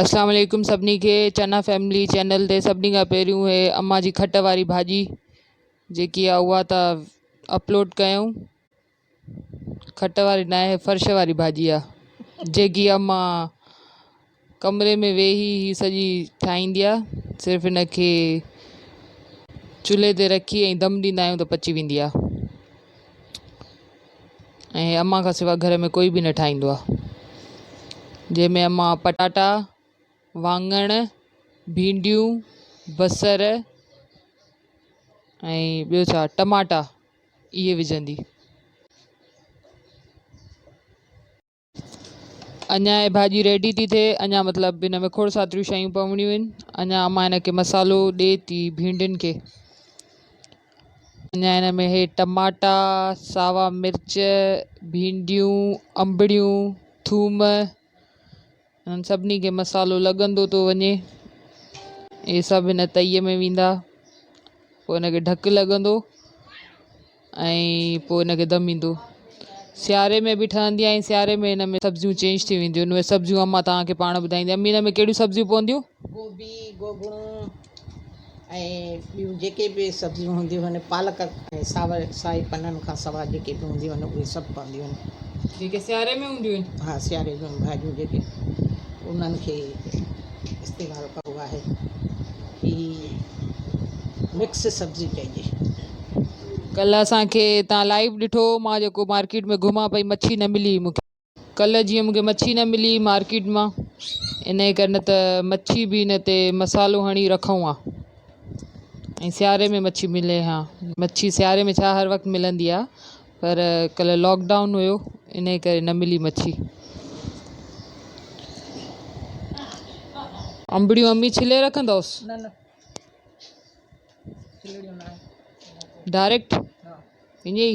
اسلام عليڪم سڀني کي چنا فيملي چينل تي سڀني کان پهريون هي اما جي کٽ واري ڀاڄي جيڪي آ اها ته اپلوڊ ڪيون کٽ واري نه آهي فرش واري ڀاڄي آ جيڪي اما ڪمري ۾ ويهي هي سڄي ٺاهيندي آ صرف ان کي چولهي تي رکي ۽ دم ڏيندا آهيون ته پچي ويندي آ ۽ امان کان سواء گهر ۾ ڪوئي به نه ٺاهيندو آ جنهن ۾ امان پٽاٽا وانڱڻ ڀينڊيون بصر ۽ ٻيو ڇا ٽماٽا اهي وجهندي. اڃا هي ڀاڄي ريڊي ٿي ٿئي اڃا مطلب هن ۾ کوڙ ساتريون شيون پوڻيون آهن اڃا امان هن کي مصالحو ڏي ٿي ڀينڊين کي اڃا هن ۾ هي ٽماٽا ساوا مرچ ڀينڊيون انبڙيون ٿوم انهن سڀني کي مصالحو لڳندو ٿو وڃي. اهي سڀ هن تئيء ۾ ويندا. پوء ان کي ڍڪ لڳندو ۽ پوء ان کي دم ايندو. سياري ۾ به ٺهندي ۽ سياري ۾ هن ۾ سبزيون چينج ٿي وينديون آهن. اهي سبزيون امان توهان کي پاڻ ٻڌائيندي. امي ان ۾ ڪهڙيون سبزيون پونديون؟ گوبي، گوگڻو. ۽ ٻيون جيڪي به سبزيون هونديون آهن پالڪ ۽ ساوي سائي پنن کان سواء جيڪي به هونديون آهن اهي سڀ پونديون آهن جيڪي سياري ۾ هونديون آهن ها سياري جون ڀاڄيون جيڪي انهن کي استعمال ڪبو آهي هي مڪس سبزي چئجي ڪلهه اسان کي تان لائيو ڏٺو مان جيڪو مارڪيٽ ۾ گهمان پئي مڇي نه ملي مون کي. ڪلهه جيئن مون کي مڇي نه ملي مارڪيٽ مان انهي ڪري نه ته مڇي به ان تي مصالحو هڻي رکون ها ۽ سياري ۾ مڇي ملي ها مڇي سياري ۾ ڇا هر وقت ملندي آ پر ڪلهه لاڪ ڊائون هيو انهي ڪري نه ملي مڇي. انبڙيون امي ڇلي رکندوس. نه نه ڇلڙيون ناهي ڊائريڪٽ ائين ئي.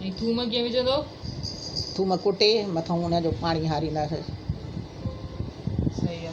۽ ٿوم ڪيئن وجهندؤ؟ ٿوم ڪٽي مٿئون ان جو پاڻي هارينداسين. صحيح آ.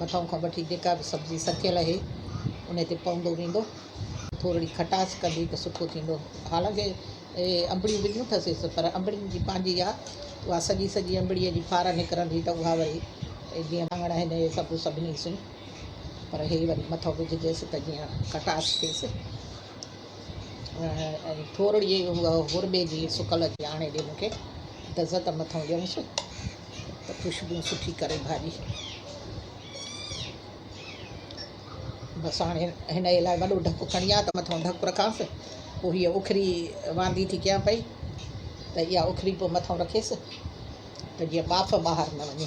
مٿانهون کان وٺي جيڪا به سبزي سڪيل اهي انهي تي پوندو ويندو ٿورڙي کٽاس ڪندي ته سٺو ٿيندو حالانڪه انبڙيون وجهيون ٿسيس پر انبڙين جي پنهنجي آ اها سڄي سڄي انبڙي جي ڦار نڪرندي ته اها وري جيئن واڱڻ آهن اهي سڀ سڀني سين پر هي وري مٿو وجهجيس ته جيئن کٽاس ٿيس ٿورڙي هربي جي سڪل جي آڻي ڏي مون کي دزه ته مٿانهون ڏيونس. ته خوشبوء سٺي ڪري ڀاڄي. بس هاڻي هن لاء وڏو ڍڪ کڻي آ ته مٿان ڍڪ رکانس پوء هيء اکري واندي ٿي ڪيان پئي ته اها اکري پوء مٿان رکيس ته جيئن ٻاڦ ٻاهر نه وڃي.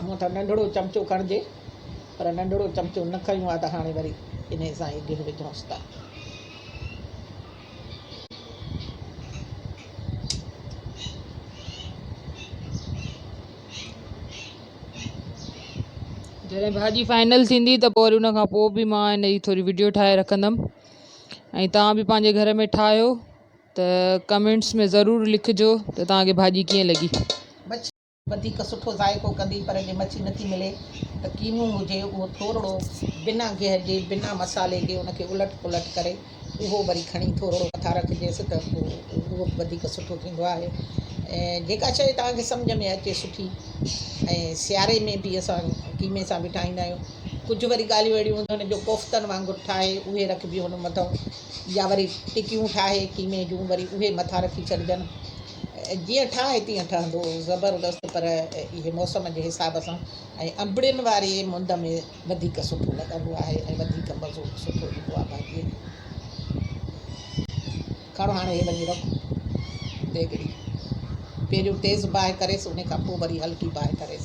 هونء ته ننڍڙو چمچو کڻجي پر ننڍڙو چمچو نه کنيو آهي ته هاڻي وري انهي سان ئي گهه وجهونس ٿا. جڏهن ڀاڄي فائنل ٿيندي ته پوء وري ان کان پوء به مان ان جي ٿوري وڊيو ٺاهي رکندم ۽ توهان به پنهنجي گهر ۾ ٺاهيو ته ڪمينٽس ۾ ضرور لکجو ته توهان کي ڀاڄي ڪيئن لڳي. مڇي وڌيڪ سٺو ذائقو ڪندي پر جي مڇي نٿي ملي ته ڪينو هجي اهو ٿورڙو بنا گيهه جي بنا مصالحي جي ان کي الٽ پلٽ ڪري اهو وري کڻي ٿورڙو مٿان رکجيس ته پوء اهو به وڌيڪ سٺو ٿيندو آهي ۽ جيڪا شئي توهان کي سمجهه ۾ اچي سٺي ۽ سياري ۾ به اسان قيمي سان به ٺاهيندا آهيون ڪجهه وري ڳالهيون اهڙيون هونديون آهن جو ڪوفتن وانگر ٺاهي اهي رکبيون هن مٿان يا وري ٽڪيون ٺاهي قيمي جون وري اهي مٿان رکي ڇڏجن جيئن ٺاهي تيئن ٺهندو زبردست پر اهي موسم جي حساب سان ۽ انبڙين واري مند ۾ وڌيڪ سٺو لڳندو آهي ۽ وڌيڪ مزو به سٺو ايندو آهي ڀاڄي جو کڻ هاڻي هي وڃي رک ديڳڙي پهريون تيز باهه ڪريس ان کان پوء وري هلڪي باهه ڪريس.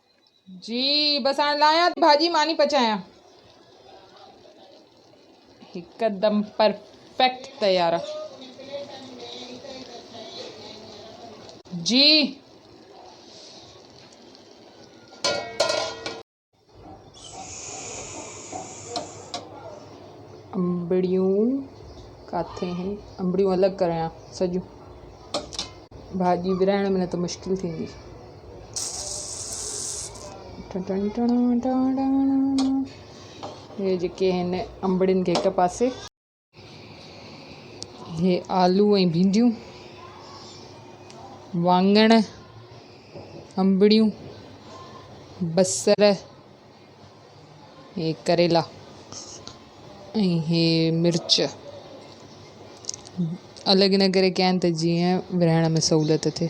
جي بس هاڻي لاهيان ٿي ڀاڄي ماني پچايان. هڪدم پرفيڪٽ تيار آ. جي انبڙيون ڪاٿي آهن انبڙيون الڳ ڪريان سڄيون ڀاڄي ورهائڻ ۾ نه ته مشڪل ٿيندي. هي جيڪي آهن انبڙين کي هڪ پاسي هي آلو ۽ ڀينڊيون وانگڻ انبڙيون بصر هي ڪريلا ۽ هي مرچ الڳ ان ڪري ڪيا آهن ته جيئن ورهائڻ ۾ سهولت ٿئي